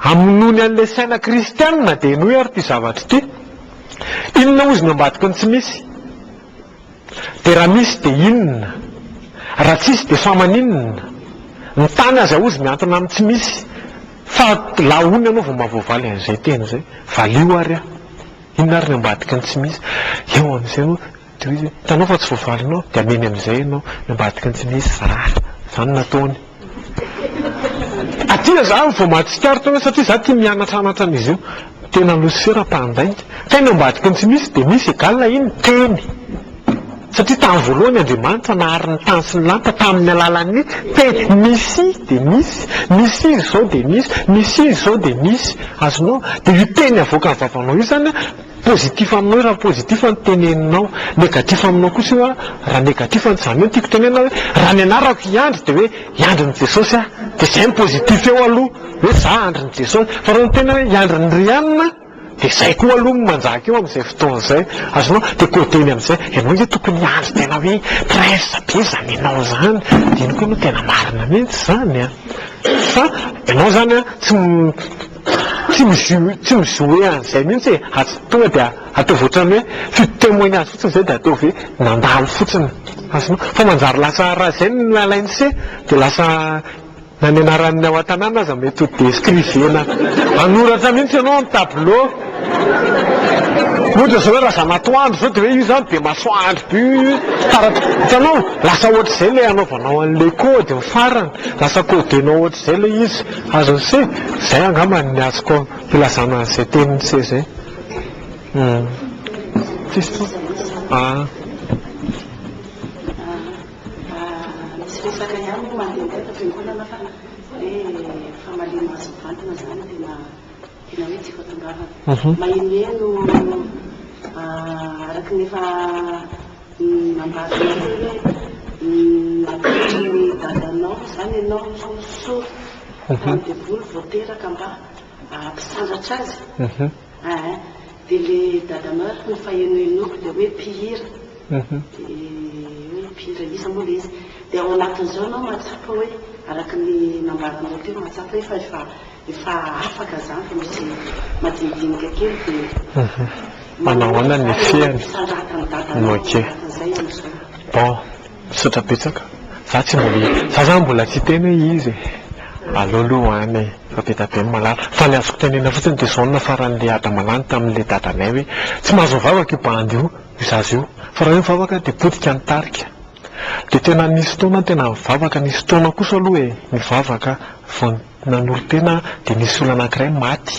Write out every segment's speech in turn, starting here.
Hamonoany an'ilay saina kristianina dia henoy ary ity zavatra ity, Inona hozy ny ambadiky ny tsy misy? Dia raha misy dia inona? Raha tsisy dia fa maninona? Ny tany aza hozy miantona amin'ny tsy misy fa la hono ianao vao mahavoavaly an'izay teny izay? Valio ary aho! Inona ary ny ambadiky ny tsy misy? Eo amin'izay no. Dia hoy izy hoe, hitanao fa tsy voavalinao, dia hamehiny amin'izay ianao, ny ambadiky ny tsy misy zara. Izany no nataony. Aty izaho vao mahatsikaritra an'io satria izaho tia mianatranatra an'izy io. Tena losifera mpandainga. Kay ny ambadiky ny tsy misy dia misy égal iny, teny. Satria tamin'ny voalohany Andriamanitra nahary ny tany sy ny lanitra tamin'ny alalan'ny teny. Misy dia misy, misy izy izao dia misy, misy izy izao dia misy. Azonao? Dia io teny avoakan'ny vavanao io izany Positif aminao raha positif ny teneninao, negatif aminao kosa io raha negatif ny izany hoe tiako tenenina hoe raha ny anarako i Andry dia hoe i Andrin'i Jesosy aho, dia izay no positif eo aloha hoe izaho Andrin'i Jesosy, fa raha ny tena hoe i Andrin'i Rianina dia izay koa aloha no manjaka eo amin'izay fotoana izay, azonao? dia côté-ny amin'izay ianao nge tokony hiandry tena hoe presse be izany ianao izany dia iny koa no tena marina mihintsy izany an! fa ianao izany an tsy Tsy misy tsy misy hoe an'izay mihitsy e, aza tonga dia ataovy ohatran'ny hoe f'io témoignage fotsiny izay dia ataovy hoe nandalo fotsiny, azonao? Fa manjary lasa raha izay no alain'i se dia lasa nanenarany ao an-tanàna aza mety ho descrivena, hanoratra mihitsy ianao amin'ny tableau, ohatra izao hoe Razanatoandro izao dia hoe io izany be masoandro be io io taratra, hitanao? Lasa ohatr'izay ilay anaovanao an'ilay code ny farany, lasa codenao ohatr'izay ilay izy. Azon'i se, zay angamba ny azoko hilazana an'izay tenin'i se zay. Aah. Uhum. Nambara anareo hoe natolotry ny dadanao izany ianao sao sory tany devoly vao teraka mba hampisandratra azy aa dia le dadanao ary no fahenohenoako dia hoe mpihira dia hoe mpihira iza moa le izy dia ao anatin'izao ianao mahatsapa hoe araka ny nambaranao teo mahatsapa hoe fa efa Efa afaka zany fa misy madinidinika kely de manao ahoana ny fihany no ok bon misaotra betsaka za tsy mbola za zany mbola tsy hiteny hoe iza e aleo aloha any e fa be da be ny malala fa ny azoko tenenina fotsiny de zao no nafaran'le adama lany tamin'le dadanay hoe tsy mahazo mivavaka io bandy io io zaza io fa raha hoe mivavaka de potika ny tarika de tena nisy fotoana aho tena nivavaka nisy fotoana kosa aloha e nivavaka vao Nanolo-tena aho dia nisy olona anankiray maty,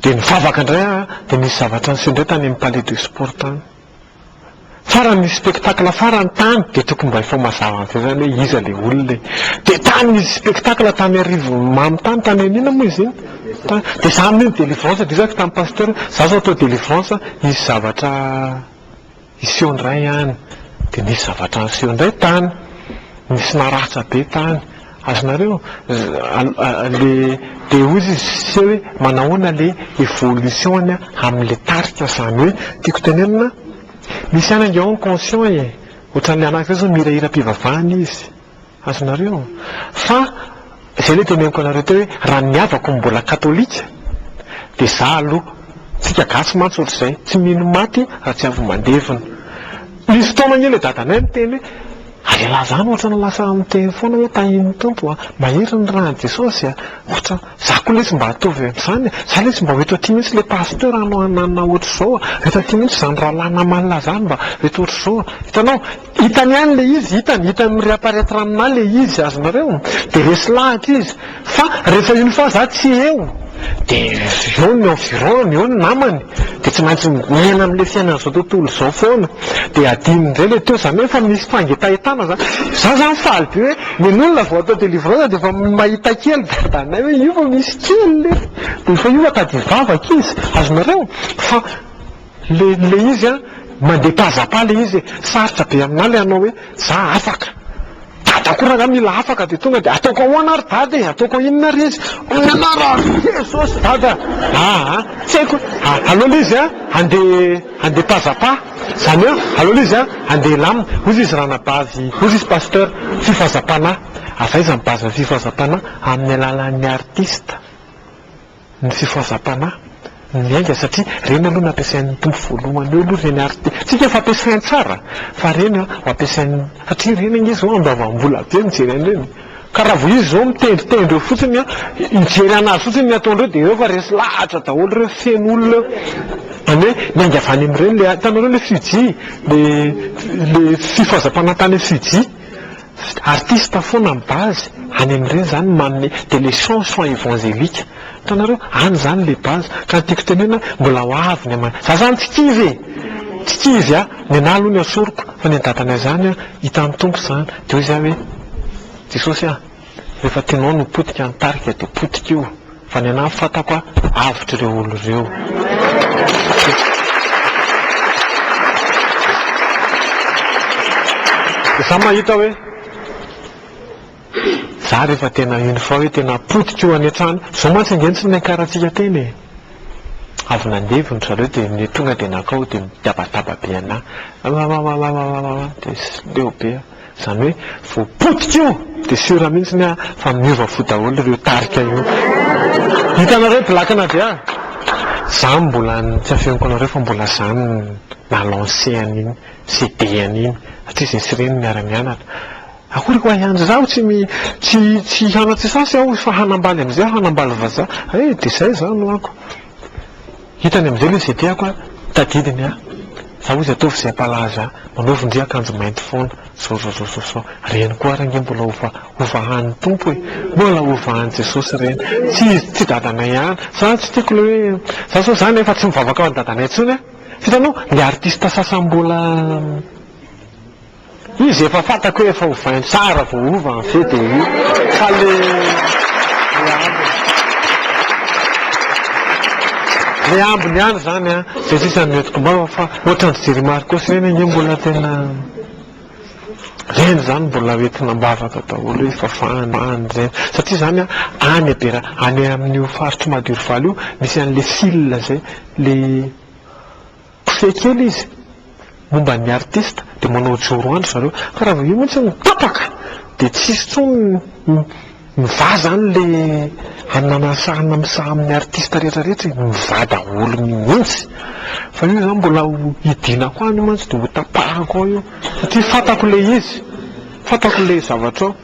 dia nivavaka indray aho dia nisy zavatra niseho indray tany amin'ny palais de sport tany. Farany nisy spectacle farany tany dia tokony mba efa ho mazava amin'izay izany hoe iza ilay olona e! Dia tany nisy spectacle tany Arivony Mamy tany, tany amin'ny inona moa izy iny? tany, dia izaho amin'iny délivrance dia izako tamin'ny pasteur, izaho izao atao délivrance hisy zavatra. Hiseho indray any, dia nisy zavatra niseho indray tany, nisy naratra be tany, azonareo? le dia hoy izy Sise hoe manahoana le evolution amin'ny le tarika zany hoe tiako tenenina misy any ange ao ny conscient e, ohatran'ny le anankiray zao mihirahira am-pivavahana izy, Azonareo? Fa izay ilay teneniko anareo teo hoe raha ny havako no mbola katolika dia izaho aloha, tsika gasy mantsy ohatr'izay, tsy mino maty raha tsy avy mandevina. Nisy fotoana anie ilay dadanay niteny hoe, ary ialahy izany ohatrany lasa miteny foana hoe tahin'ny Tompo a, mahery ny ran'i Jesosy a, ohatra, izaho koa lesy mba atovy amin'izany e, izaho lesy mba ho eto aty mihitsy ilay pasteur anao hananina ohatr'izao a, ho eto aty mihitsy izany rahalahy naman'ilazano mba ho eto ohatr'izao a, hitanao? Hitany ihany ilay izy, hitany, hitany mi reapparaître aminà ilay izy azonareo, dia resy lahatra izy, fa rehefa une fois za tsy eo, dia eo ny environ-ny, eo ny namany, dia tsy maintsy miaina amin'ilay fiainan'izao tontolo izao foana, dia adinony indray ilay teo, izany hoe efa misy fangetahentana izany, za izany faly be hoe nen'olona vao atao délivrance dia efa mahita kely dadanay hoe io vao misy kely, dia efa io atady hivavaka izy, azonareo, fa Le le izy an, mandeha pas à pas le izy e, sarotra be aminah le hanao hoe za afaka, dada koa rangah mila afaka de tonga de ataoko ahoana ary dada e, ataoko inona ary izy, hoy anah raha avy eo Jesosy dada a, aa tsy haiko a, aleo le izy an handeha handeha pas à pas, zany hoe aleo le izy an handeha hilamina, hozy izy ranabavy, hozy izy pasteur, fifazam-panahy, avy aiza ny base ny fifazam-panahy, amin'ny alalan'ny artiste. ny fifohazam-panahy miainga satria ireny aloha nampiasain'ny Tompo voalohany eo aloha ireny ary tiantsika fa ampiasainy tsara fa ireny an ho ampiasainy satria ireny ange izao andoavam-bola be mijery an'ireny ka raha vao izy izao mitendritendry eo fotsiny an hijery an'azy fotsiny ny ataondreo dia eo fa resy lahatra daholo ireo feno olona eo izany hoe miainga avy any amin'ireny le hitanareo le Fuji le fifohazam-panahy tany Fuji Artiste foana ny base any amin'ireny izany manome dia le chanson evangelique hitanareo any izany le base ka ny tiako tenena mbola ho avy ny aman za zany tsy kivy e! tsy kivy a! ny anah aloha no asoriko fa ny an'i dadanay zany a hitan'ny Tompo izany dia hoy za hoe Jesosy a! rehefa tianao ny ho potika ny tarika dia potika io Fa ny anah fatako a avotry ireo olo ireo. Za mahita hoe za rehefa tena une fois hoe tena potika io any an-trano io, zao mantsy ange ny tsy niakarantsika teny e! Avy nandevo ndry zareo dia ny tonga dia nankao dia mitabataba be anah, Amamamamamamamam dia leo be aho. Izany hoe vao potika io dia sûr mihitsy ny ahy fa miova fo daholo ireo tarika io. Hitanareo black na dia za mbola ny tsy afeniko anareo fa mbola za no na lancer an'iny CD an'iny satria zay sy ireny miara mianatra. Akory koa ahy andry zaho tsy tsy tsy hianatra sasy aho fa hanambaly amizay aho hanambaly vazaha eh dia zay za no ako. Hitany amin'izay ilay izay tiako a! Tadidiny a! Za hozy ataovy izay hampalaza ahy, manao vonjy akanjo mainty foana, zôzôzôzôzô! Reny koa ary ange mbola hovahan'ny Tompo e! Mbola hovahan'i Jesosy ireny! Tsy izy, tsy dadanay ihany! Za tsy tiako ilay hoe, za zao zany efa tsy mivavaka ho an'i dadanay intsony a! Hitanao, ilay artista sasany mbola Izy efa fantako hoe efa ho vingt tsara vao hova en fait dia io fa le le ambiny le ambiny ihany zany an zay sisa no entiko mba fa ohatran'ny ry Jerry Marcos ireny ange mbola tena ireny zany mbola ho entina am-bavaka daholo hoe efa fahany fahany izay satria zany an any Bera any amin'io faritr'i Madirovaly io misy an'le fil zay le Kofehy kely izy momba ny artista dia manao joro an-dry zareo ka raha vao io mihitsy no tapaka dia tsy hisy intsony mivaha izany ilay hanina miasahana misaha amin'ny artista rehetra rehetra e, mivaha daholo mihitsy fa io izany mbola ho hidinako any io mantsy dia ho tapahako ao io satria fantako ilay izy, fantako ilay zavatra ao.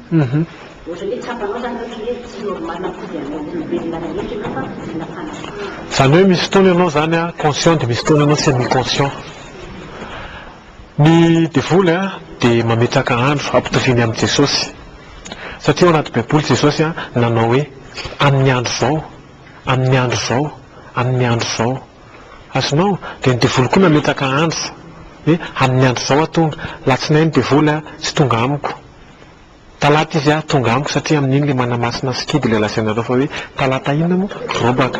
Ohatran'ny hoe tsapanao izany hoe ohatran'ny hoe tsy normal akory ianao olombelona rehetra ianao fa olona fanahy. Izany hoe misy fotoana ianao izany an, conscient dia misy fotoana ianao semi conscient. Ny devoly an, dia mametraka andro hampitoviany amin'i Jesosy. Satria ao anaty baiboly Jesosy an, nanao hoe, amin'ny andro izao, amin'ny andro izao, amin'ny andro izao. Azonao? Dia ny devoly koa nametraka andro, hoe amin'ny andro izao aho tonga. Alatsinainy devoly an, tsy tonga amiko. Talata izy ah, tonga amiko satria amin'iny ilay manamasina sikidy ilay lazainareo fa hoe talata inona moa? Robaka.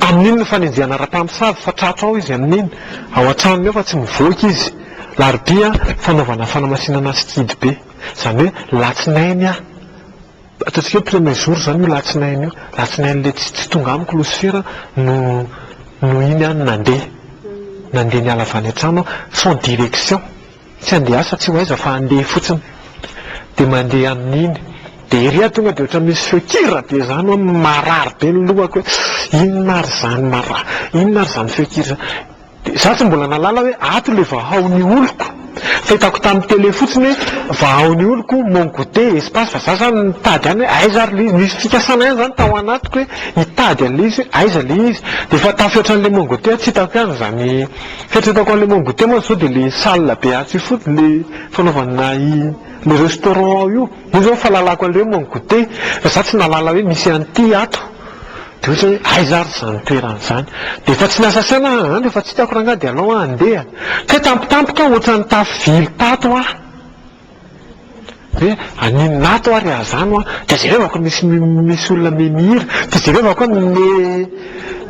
Amin'iny no fanenjehana ara-pamosavy fa tratro ao izy amin'iny. Ao an-tranony ao fa tsy mivoaka izy. Larobia ah, fanaovana fanamasinana sikidy be. Izany hoe latsinainy ah, ataontsika hoe premier jour izany io latsinainy io. Latsinain'ilay tsy tsy tonga amiko losifera no no iny ah no nandeha. Nandeha niala avy any an-trano aho sans direction. Tsy handeha asa tsy ho aiza fa handeha fotsiny dia mandeha amin'iny dia ery aho tonga dia ohatran'ny misy feo kira be izany hoe marary be ny lohako hoe inona ary izany mara inona ary izany feo kira izany dia izaho tsy mbola nahalala hoe ato ilay vahao ny oloko fa hitako tamin'ny tele fotsiny hoe vahao ny oloko mon goûter espace fa izaho izany nitady ihany hoe aiza ary ilay izy nisy fikasana ihany izany tao anatiko hoe hitady an'ilay izy hoe aiza ilay izy dia efa tafiotra an'ilay mon goûter aho tsy hitako ihany izany Heritreretako an'ilay Mont Goûter mantsy izao dia ilay salle be atsy io fotsiny, ilay fanaovana ilay restaurant ao io. Io izao no fahalalako an'ilay hoe Mont Goûter, fa izaho tsy nahalala hoe misy an'ity ato. Dia ohatra hoe aiza ary izany toerana izany. Dia efa tsy niasa saina aho, andry efa tsy hitako rangahy dia alao aho handeha. Kay tampotampoka aho, ohatran'ny tafo vily tato aho. Hoe aninona ato ary azano an, dia jereo ako misy misy olona me mihira, dia jereo ako hoe me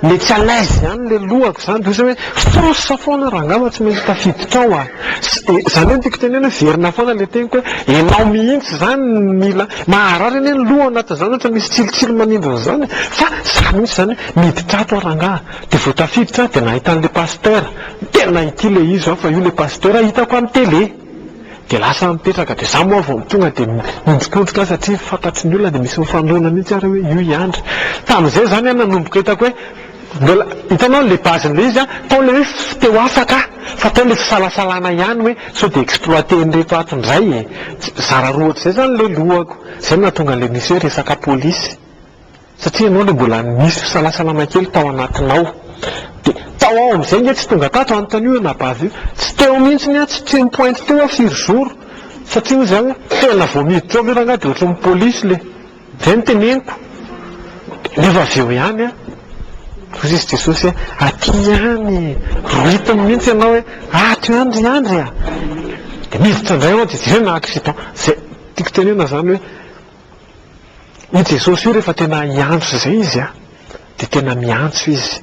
me tsy à l'aise ihany ilay lohako izany, dia ohatran'ny hoe force foana raha angamba tsy maintsy tafiditra ao an, izany hoe ny tiako tenena hoe verina foana ilay teniko hoe ianao mihitsy izany no mila, maharary anie ny loha ao anatin'izany ohatra misy tsilotsilo manindrona izany fa za mihitsy izany hoe miditra ato aho rangaha, dia vao tafiditra aho dia nahita an'ilay pasitera, tena ity ilay izy fa io ilay pasitera hitako amin'ny télé. Dia lasa mipetraka dia za moa vao tonga dia miondrikondrika aho satria fantatry ny olona dia misy mifandona mihintsy ary hoe io i Andry. Tamin'izay izany aho nanomboka hitako hoe mbola, hitanao ilay base-n'ilay izy an, tao ilay hoe tsy te ho afaka aho fa tao ilay fisalasalana ihany hoe sao dia exploiter-n'ireto ato indray e! zara roa ohatr'izay izany ilay lohako. Izay no nahatonga an'ilay misy hoe resaka polisy. Satria ianao ilay mbola nisy fisalasalana kely tao anatinao. Dia tao aho amin'izay nge tsy tonga tato anontany io anabavy io. Tsy teo mihintsy ny ahy, tsy tsy nipointy teo aho firy jour. Satria hoy izaho hoe tena vao miditra ao ve rangahy dia ohatran'ny police ilay. Izay no teneniko. Nefa avy eo ihany an. Hoy izy Jesosy hoe aty ihany e. Rohitiny mihintsy ianao hoe ato ihany ry andry a. Dia miditra indray ao dia jereo na accident. Izay tiako tenenana izany hoe. Io Jesosy io rehefa tena hiantso izay izy a, dia tena miantso izy.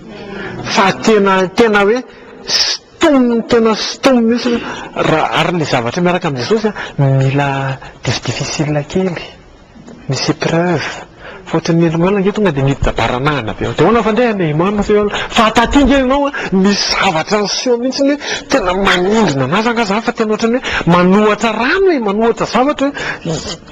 Fa tena tena hoe stom tena stom mihitsy raha ary ny zavatra miaraka amin'i Jesosy a, mila diso difficile kely, misy épreuve. Fa ohatran'ny olombelona ange tonga dia miditra-baranahana be ao. Dia ahoana fa ndeha any Imam sao ianao. Fa taty ange ianao a, misy zavatra niseho mihitsy hoe tena manindrona an'azy angaha izany fa tena ohatran'ny hoe manohatra rano e, manohatra zavatra hoe.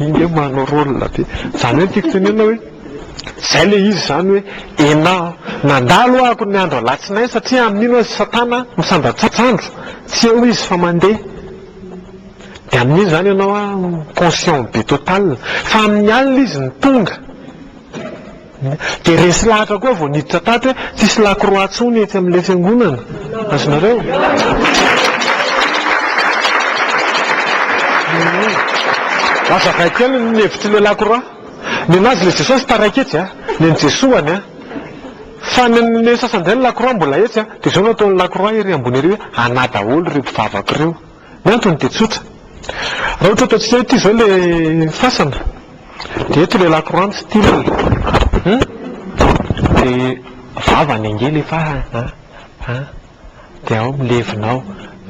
Iny nge manao rôle be. Zany hoe ny tiako tenenina hoe zay le izy zany hoe enah nandalo ahako ny andro alatsinainy satria amin'iny ozy satana misandratsandro tsy eo izy fa mande de amin'iny zany enao an conscient be total fa amin'ny alina izy ny tonga Dia resy lahatra koa vao niditra tato hoe tsisy lakroa tsony etsy amin'ilay fiangonana. Azonareo? Azavaiko kely ny hevitr'ilay lakroa. Ny an'azy ilay Jesosy taraiky etsy, ny an'i Jesoany. Fa ny an'ny sasany indray ny lakroa mbola etsy. Dia izao no ataon'ny lakroa ery ambony ery hoe anà daholo ireo mpivavaka ireo. Ny antony dia tsotra. Raha ohatra ataontsika hoe ity izao ilay fasana, dia eto ilay lakroanty style an, dia vava ny ange ilay fasana an, dia ao milevina ao,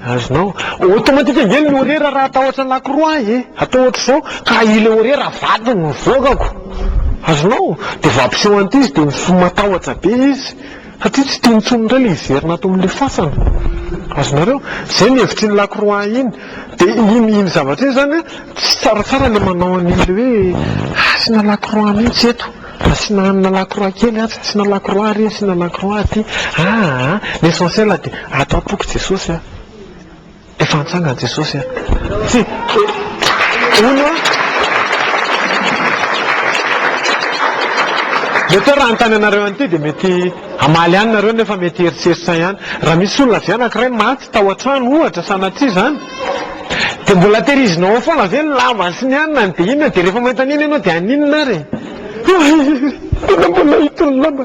azonao, automatique ange ny horaire raha atao ohatran'ny lakroa ahy e, atao ohatr'izao ka ilay horaire vaky ny mivoakako, azonao, dia vao ampiseho an'ity izy dia matahotra be izy. Satria tsy tiany intsony indray ilay hiverina ato amin'ilay fasana. Azonareo? Izay ny hevitr'iny Lacroix iny. Dia iny iny zavatra iny izany tsy tsaratsara ilay manao an'ilay hoe asiana Lacroix mihitsy eto, asiana hanina Lacroix kely atsy, asiana Lacroix ary, asiana Lacroix aty. Aa! L'essentiel dia ato am-poko Jesosy a! Efa nitsangana Jesosy a! Tsy hono a! Mety hoe raha hanontany anareo an'ity dia mety hamaly ihany nareo nefa mety hieritseritra ihany. Raha misy olona avy anankiray maty tao an-trano ohatra sanatria izany, dia mbola tehirizinao ao foana ve ny lamba sy ny anona ny dia inona dia rehefa mahita an'iny ianao dia haninona ary e? Tena mbola hita ny lamba.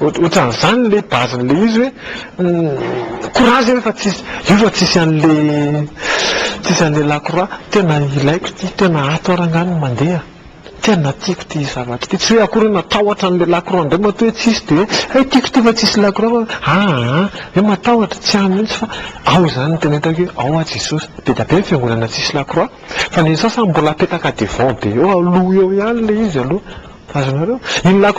Ohatran'izany ilay base-n'ilay izy hoe courage io fa tsisy io fa tsisy an'ilay tsisy an'ilay la croix. Tena ilaiko ity, tena ato ary angaha no mandeha. Tena tiako ity zavatra ity. Tsy hoe akory hoe matahotra an'ilay la croix indray matoa hoe tsisy dia hoe hay tiako ity fa tsisy la croix fa aa hoe matahotra, tsy any mihitsy fa ao izany no tena hitako hoe ao aho Jesosy. Be dia be ny fiangonana tsisy la croix fa ny sasany mbola apetaka devant be eo aloha eo ihany ilay izy aloha. Azonareo? Iny la croix